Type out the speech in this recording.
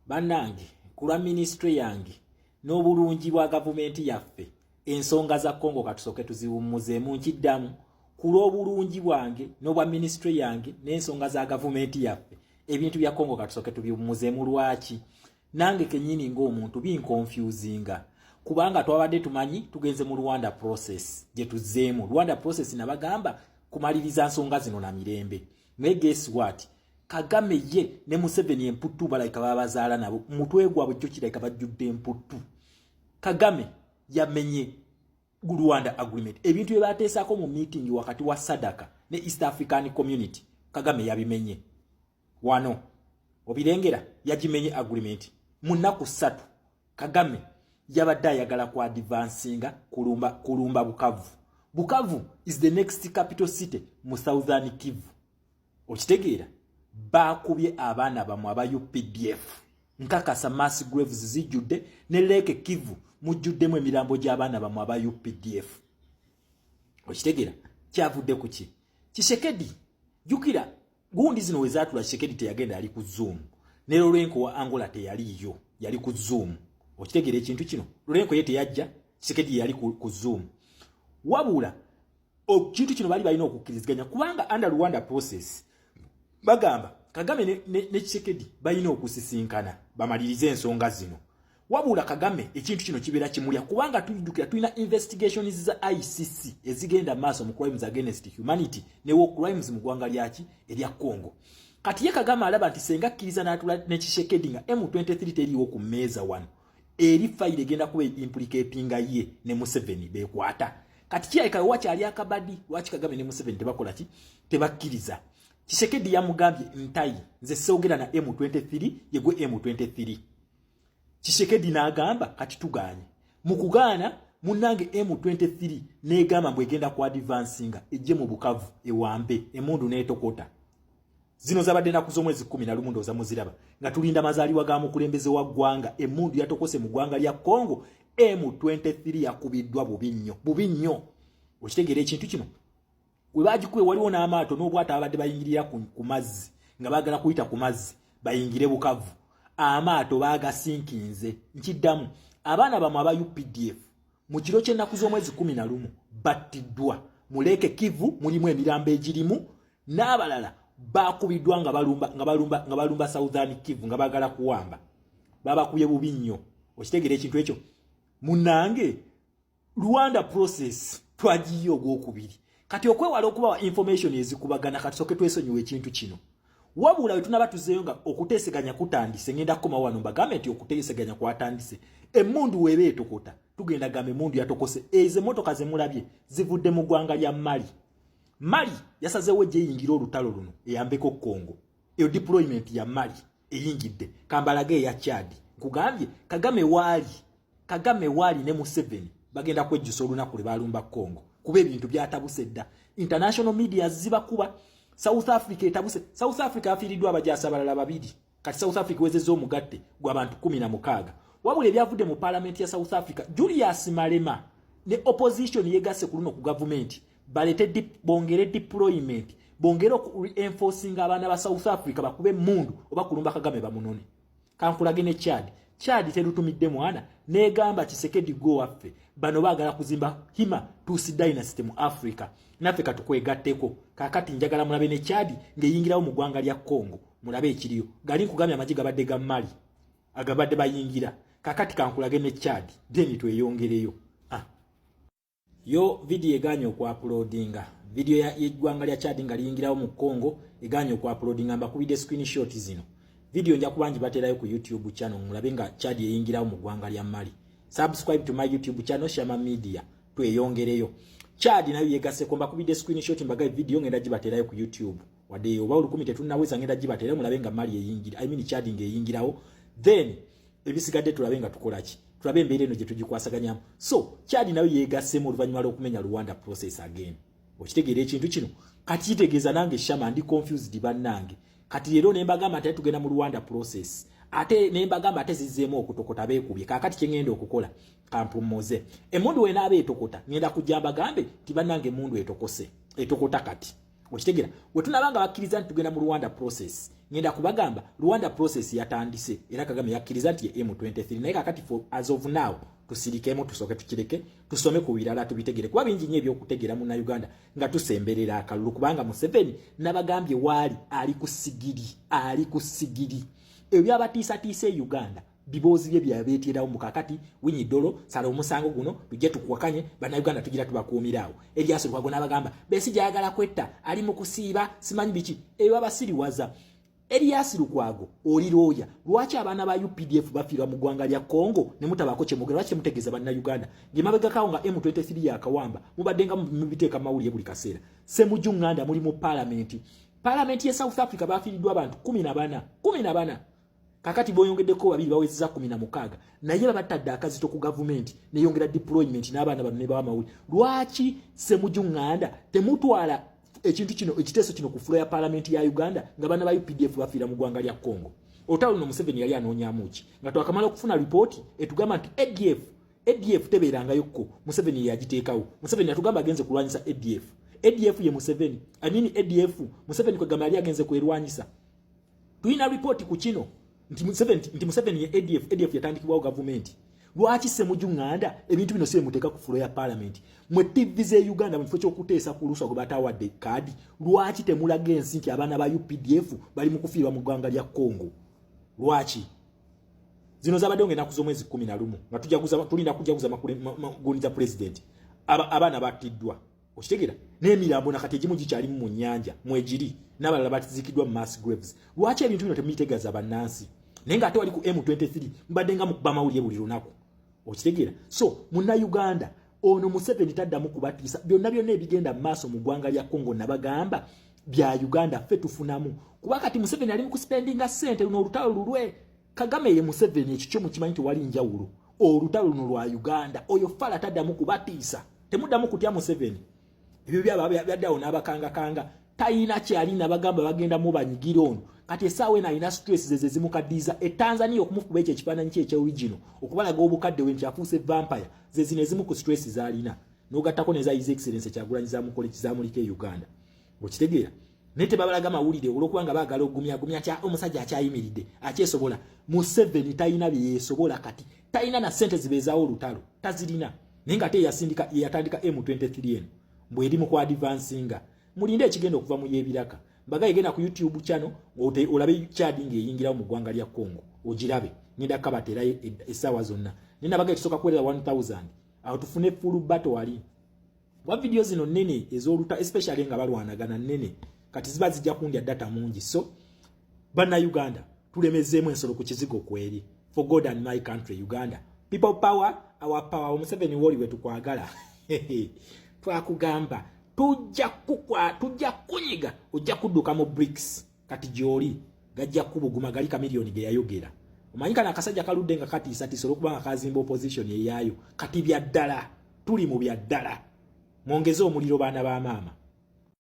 bannange kulwa minisitule yange n'obulungi bwa gavumenti yaffe ensonga za congo katusooke tuziwummuzeemu nkiddamu ku lw'obulungi bwange n'obwa minisitule yange n'ensonga za gavumenti yaffe ebintu bya congo katusooke tubiwummuzeemu lwaki nange kenyini ng'omuntu binkonfuzinga kubanga twabadde tumanyi tugenze mu rwanda process gye tuzzeemu rwanda process nabagamba kumaliriza nsonga zino na mirembe naye guess what kagame ye ne museveni emputtu balayika babazaala nabo mutwe gwabwe kyo kirayika bajjudde emputtu Kagame yamenye Rwanda agreement. Ebintu bye baateesaako mu meeting wakati wa Sadaka ne East African Community Kagame yabimenye wano obirengera yagimenye agreement mu nnaku ssatu Kagame yabadde ayagala ku advansinga kulumba, kulumba Bukavu. Bukavu is the next capital city mu Southern Kivu. okitegeera baakubye abaana bamwe aba updf nkakasa mass graves zijjudde ne leeke kivu mujjuddemu emirambo gy'abaana bamwe aba updf okitegeera kyavudde ku ki kisekedi jukira gundi zino we zaatula kisekedi teyagenda yali ku zoom ne lorenko wa angola teyaliiyo yali ku zoom okitegeera ekintu kino lorenko ye teyajja kisekedi yali ku zoom wabula okintu kino bali balina okukkiriziganya kubanga under rwanda process bagamba kagame ne, ne, ne kisekedi balina okusisinkana bamalirize ensonga zino wabula kagame ekintu kino kibeera kimulya kubanga tujjukira tulina investigations za icc ezigenda maaso mu crimes against humanity ne war crimes mu ggwanga lyaki erya congo kati ye kagame alaba nti senga akkiriza n'atula ne kisekedi nga m23 teriiwo ku mmeeza wano eri fayiro egenda kuba implicatinga ye ne museveni bekwata kati kirabika wakyali akabadi lwaki kagame ne museveni tebakola ki tebakkiriza kisekedi yamugambye ntayi nze sewogera na m23 yegwe m23 kisekedi n'agamba kati tuganye mu kugaana munange m23 n'egamba mbu egenda ku advansinga ejje mu bukavu ewambe emundu n'etokota zino zabadde naku z'omwezi kumi na lumu ndooza muziraba nga tulinda mazaliwa ga mukulembeze wa ggwanga emundu yatokose mu ggwanga lya congo m23 yakubiddwa bubi nnyo bubi nnyo okitegeera ekintu kino we bagikuwe waliwo n'amaato n'obwata babadde bayingirira ku mazzi nga bagala kuyita ku mazzi bayingire bukavu amaato bagasinkinze nkiddamu abaana bamwe aba updf Mu kiro ky'ennaku z'omwezi kumi na lumu battiddwa mu leeke Kivu mulimu emirambo egirimu n'abalala baakubiddwa nga balumba nga balumba nga balumba Southern Kivu nga baagala kuwamba babakubye bubi nnyo okitegeera ekintu ekyo munange Rwanda process twagiye ogwokubiri kati okwewala okubawa information ezikubagana kati soke twesonyiwa ekintu kino wabula we tunaba tuzeeyo nga okuteeseganya kutandise ngenda kukoma wano mbagambe nti okuteeseganya kwatandise emmundu weeba etokota tugenda gamba emmundu yatokose ezo emmotoka ze mulabye zivudde mu ggwanga lya mali mali yasazeewo egyeyingira olutalo luno eyambeko kongo eyo deployment ya mali eyingidde kambalage eya chad nkugambye kagame waali kagame waali ne museveni bagenda kwejjusa olunaku lwe balumba congo kuba ebintu byatabuse dda international media zibakuba south africa etabuse south africa afiiriddwa abajasa abalala babiri kati south africa wezezza omugatte gwabantu kumi na mukaaga wabula ebyavudde mu palamenti ya south africa julius malema ne opposition yegasse ku luno ku gavumenti balete dip, bongere deployment bongere oku reinforcing abaana ba south africa bakube mundu oba kulumba kagame bamunone kankulage ne chad chad terutumidde mwana negamba kisekedi go waffe bano bagala kuzimba hima tusi dynasty mu africa naffe katukwegatteko kakati njagala mulabe ne chad ngeyingirawo mu gwanga lya congo mulabe ekiriyo gali nkugambye amagi gabadde ga mali agabadde bayingira kakati kankulage ne chad then tweyongereyo yo video eganye okwapulodinga video yeggwanga lya chad nga liyingirawo mu congo eganye okwapulodinga mbakubidde screenshot zino video nja kubangi baterayo ku youtube channel mulabe nga chad yeyingirawo mu ggwanga lya mali subscribe to my youtube channel shama media tweyongereyo chad nayo yegaseko mbakubidde screenshot mbagaye video ngenda gibaterayo ku youtube wadde oba olukumi tetunnaweza ngenda gibaterayo mulabe nga mali eyingira i mean chad nga eyingirawo then ebisigadde tulabe nga tukola ki tulabe embeera eno gye tugikwasaganyamu so kyadi nayo yeegassemu oluvannyuma lw'okumenya rwanda process again okitegeera ekintu kino kati kitegeeza nange shama ndi confused bannange kati leero ne mbagamba nti tugenda mu rwanda process ate ne mbagamba ate zizzeemu okutokota beekubye kaakati kye ŋŋenda okukola kampummuze emmundu wenaaba etokota ŋŋenda kujja mbagambe nti bannange emmundu etokose etokota kati okitegera wetunaba nga bakkiriza nti tugenda mu rwanda process ngenda kubagamba rwanda process yatandise era kagame yakkiriza nti ye m23 naye kakati for as of now tusirikemu tusooke tukireke tusome ku birala tubitegere kuba bingi nyo ebyokutegera muna uganda nga tusemberera akalulu kubanga museveni nabagambye waali ali ku sigiri ali ku sigiri ebyabatiisatiisa e uganda biboozi bye byabeeteerawo mu kakati winyi dolo sala omusango guno tujje tukuwakanye bannayuganda tugira tubakuumiraawo ebyasolukwago n'abagamba besi gyayagala kwetta ali mu kusiiba simanyi biki ebyo babasiriwaza Elias Lukwago oli looya lwaki abaana ba UPDF bafiirwa mu ggwanga lya Congo ne mutabaako kye mugera lwaki mutegeeza banna Uganda nge mabega kawo nga M23 ya kawamba mubadde nga mubiteeka mawulire buli kaseera Semujju Nganda muli mu palamenti palamenti ya South Africa bafiiriddwa abantu kumi na bana kumi na bana kakati boyongedeko babiri bawezeza kumi na mukaaga naye babatadde akazito ku gavumenti neyongera deployment n'abaana bano nebawa amawuli lwaki semuju nganda temutwala ekintu kino ekiteeso kino ku fulo ya palamenti ya uganda nga bana ba updf bafiira mu gwanga lya congo olutalo luno museveni yali anoonyamu ki nga twakamala okufuna lipooti etugamba nti adf adf tebeerangayo kko museveni yeyagiteekawo museveni atugamba agenze kulwanyisa adf adf ye museveni amini adf museveni kwegamba yali agenze kwerwanyisa Tulina report ku kino nti Museveni nti Museveni ye ADF ADF yatandikibwawo gavumenti. Lwaki Ssemuju Nganda ebintu bino si muteeka ku fulo ya parliament? Mwe TV ze Uganda mu kifo ky'okuteesa ku luswa gwe batawadde kaadi, lwaki temulaga ensi nti abaana ba UPDF bali mu kufiirwa mu ggwanga lya Congo? Lwaki? Zino zabadde nga enaku z'omwezi kkumi na lumu nga tujaguza tulina kujaguza makugunja president abaana battiddwa okitegera n'emirambo nakati egimu gikyali mu nyanja mwegiri n'abalala batizikidwa mu mass graves lwaki ebintu bino temubitegeeza bannansi naye nga ate wali ku m23 mbadde nga mukuba amawulire buli lunaku okitegera so muna uganda ono museveni taddamu kubatiisa byonna byonna ebigenda mu maaso mu ggwanga lya congo nabagamba bya uganda ffe tufunamu kuba kati museveni ali mu kuspendinga sente luno olutalo lulwe kagame ye museveni ekikyo mukimanyi tewali njawulo olutalo luno lwa uganda oyo fala taddamu kubatiisa temuddamu kutya museveni ebyo byaba byaddawo n'abakangakanga tayina kyalina bagamba bagenda mubanyigira ono kati esaawa eno alina stress zeze zimukaddiiza etanzania okumufuba ekyo ekifaananyi kye ekyorigino okubalaga obukadde we nti afuuse vampire zezino ezimu ku stress zaalina n'ogattako neza his excellence kyagulanyi zamukola ekizamulika e uganda okitegeera naye tebabalaga mawulire olwokuba nga baagala ogumyagumya kya omusajja akyayimiridde akyesobola museveni talina bye yeesobola kati talina na ssente zibeezaawo olutalo tazirina naye nga te yasindika yeyatandika m23 eno mbwe eri mu kwadivansinga mulinde ekigenda okuva mu y'ebiraka mbaga yegenda ku youtube channel olabe kyadi ng'eyingirawo mu ggwanga lya congo ogirabe ngenda kukabateerayo e, essaawa zonna naye nabaga ekisooka kuwerera 1000 awo tufune fulu bato wali wa video zino nene ezoluta especially nga balwanagana nene kati ziba zijja kundya data mungi so bana Uganda tulemezemu ensolo ku kizigo kweri for God and my country Uganda people power our power omuseveni woli wetu kwagala twakugamba tujja kukwa tujja kunyiga ojja kuduka mu bricks kati gyoli gajja kubuguma gali kamilioni ge yayogera omanyi kana akasajja kaludde nga katiisatiisa olwokuba nga kazimba opposition eyaayo kati bya ddala tuli mu bya ddala mwongeze omuliro baana ba maama